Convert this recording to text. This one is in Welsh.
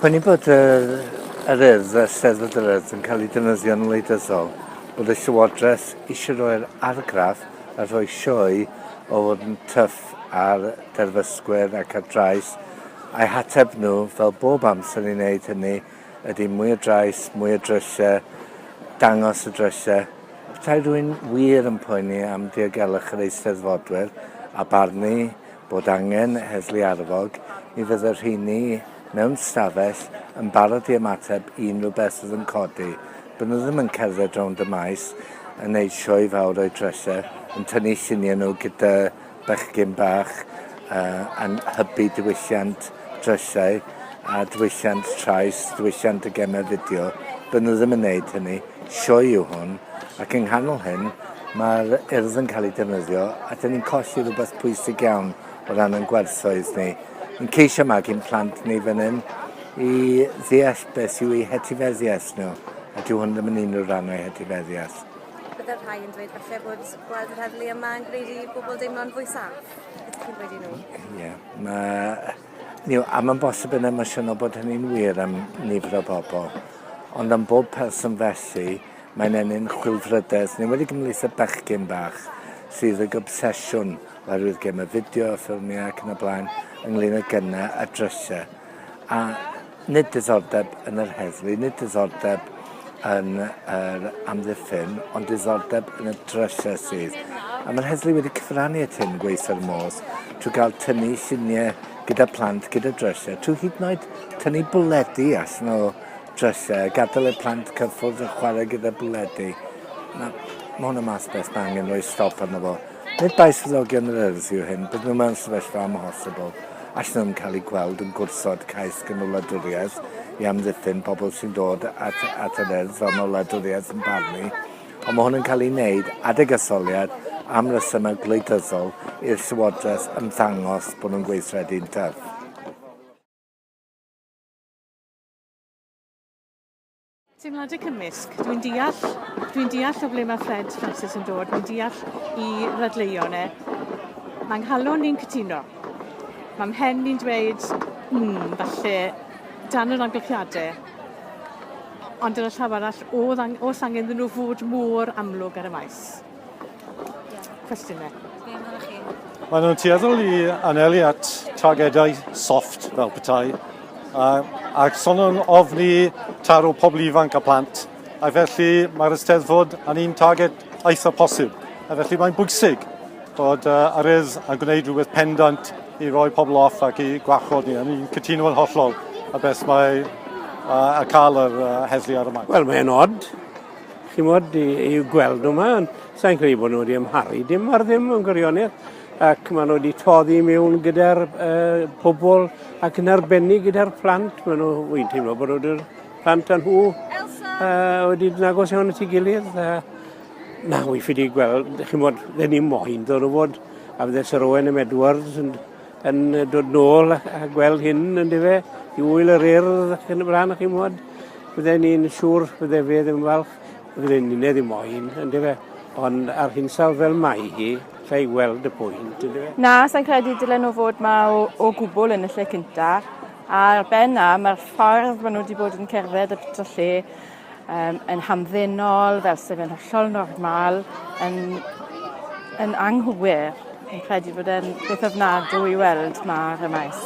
Prynu bod yr, yr urdd a Steddfod yr Urdd yn cael eu defnyddio'n wleidyddol, bod y Llywodraeth eisiau rhoi'r argraff a rhoi sioe o fod yn tyff ar derfysgwyr ac ar drais, a'u hateb nhw, fel bob amser i wneud hynny, ydy mwy o drais, mwy o drisiau, dangos y drisiau. Petai rwy'n wir yn poeni am diogelwch yr Eisteddfodwyr, a barnu bod angen heddlu arfog, mi fydd y rheini mewn stafell yn barod i ymateb i unrhyw beth sydd yn codi. By' nhw ddim yn cerdded rownd y maes yn gwneud sioe fawr o'i dreser, yn tynnu lluniau nhw gyda bechgyn bach uh, yn hybu diwylliant drysau a diwylliant trais, diwylliant y gemau fideo. By' nhw ddim yn gwneud hynny. sioe yw hwn ac yng nghanol hyn mae'r urdd yn cael ei defnyddio a dyn ni'n colli rhywbeth pwysig iawn o ran yn gwerthoedd ni. Yn ceisio magu'n plant ni fan hyn i ddeall beth yw ei hetifeddiaeth nhw a dyw hwn ddim yn unrhyw rhan o'i hetifeddiaeth. Byddai'r rhai yn dweud falle bod gweld yr heddlu yma yn gwneud i bobl deimlo'n fwy saff. Beth ydych chi'n dweud i nhw? Ie, yeah, mae Ni yw am yn bosib yn emosiynol bod hynny'n wir am nifer o bobl, ond am bob person felly, mae'n ennyn chwilfrydedd, yn enwedig ymhlith y bechgyn bach, sydd ag obsesiwn oherwydd gemau fideo, ffilmiau ac yn y blaen, ynglŷn â gynnau a drysau. A Nid diddordeb yn yr heddlu, nid diddordeb yn yr amddiffyn, ond diddordeb yn y drysau sydd. A mae'r heddlu wedi cyfrannu at hyn, gweithio'r modd, trwy gael tynnu lluniau gyda plant, gyda drysau, trwy hyd yn oed tynnu bwledi allan o drysau, gadael i'r plant cyffwrdd a chwarae gyda bwledi. Mae hwn yn math beth mae angen rhoi stop arno fo. Nid bai swyddogion yr Urdd yw hyn, bydden nhw mewn sefyllfa amhosibl, allan nhw'n cael eu gweld yn gwrthod cais gan wladwriaeth i amddiffyn pobl sy'n dod at, at yr Urdd fel mae wladwriaeth yn barnu, ond mae hwn yn cael ei wneud, adeg etholiad, am resymau gwleidyddol i'r Llywodraeth ymddangos bod nhw'n gweithredu'n ddyf. Teimladau cymysg. Dwi'n deall, dwi'n deall o ble mae Fred Francis yn dod, dwi'n deall i ddadleuon e. Mae nghalon ni'n cytuno. Mae mhen ni'n dweud, hmm, falle dan yr amgylchiadau, ond yn y llaw arall, oedd ang- oes angen iddyn nhw fod mor amlwg ar y maes? Cwestiynau. Be amdanoch chi? Maen nhw'n tueddol i anelu at targedau soft fel petai, a, a son yn ofni taro pobl ifanc a plant, a felly mae'r ysteddfod yn un targed eitha posib. A felly mae'n bwysig bod uh, arydd a gwneud rhywbeth pendant i roi pobl off ac i gwarchod ni. A ni'n cytuno yn hollol a beth mae uh, a cael yr uh, heddlu ar y maes. Wel, mae'n od chi'n bod, i, i gweld nhw yma, ond sa'n credu bod nhw wedi ymharu dim ar ddim yn gwirionedd, ac maen nhw wedi toddi mewn gyda'r uh, pobl ac yn arbennig gyda'r plant. Maen nhw, wy'n teimlo bod nhw'n plant â nhw uh, wedi nagos iawn at ei gilydd. Uh, na, wy'n ffydi gweld, chi'n bod, dyn ni moyn ddod o fod a fydde Sir Owen am Edwards yn yn dod nôl a gweld hyn yn dyfe, i wyl yr urdd ac yn y blaen, chi'n mwyn. Fydden ni'n siŵr fydde fe ddim falch, fydden ni'n ei ddim moyn, yn dyfe. Ond ar hinsawdd fel mae hi, lle i weld y pwynt, yn dyfe. Na, sa'n credu dylen nhw fod ma o, o gwbl yn y lle cynta. A'r ben na, mae'r ffordd maen nhw wedi bod yn cerdded y lle um, yn hamddenol, fel sef yn hollol normal, yn, yn anghywir. Yn credu bod e'n beth ofnadw i weld ma ar y maes.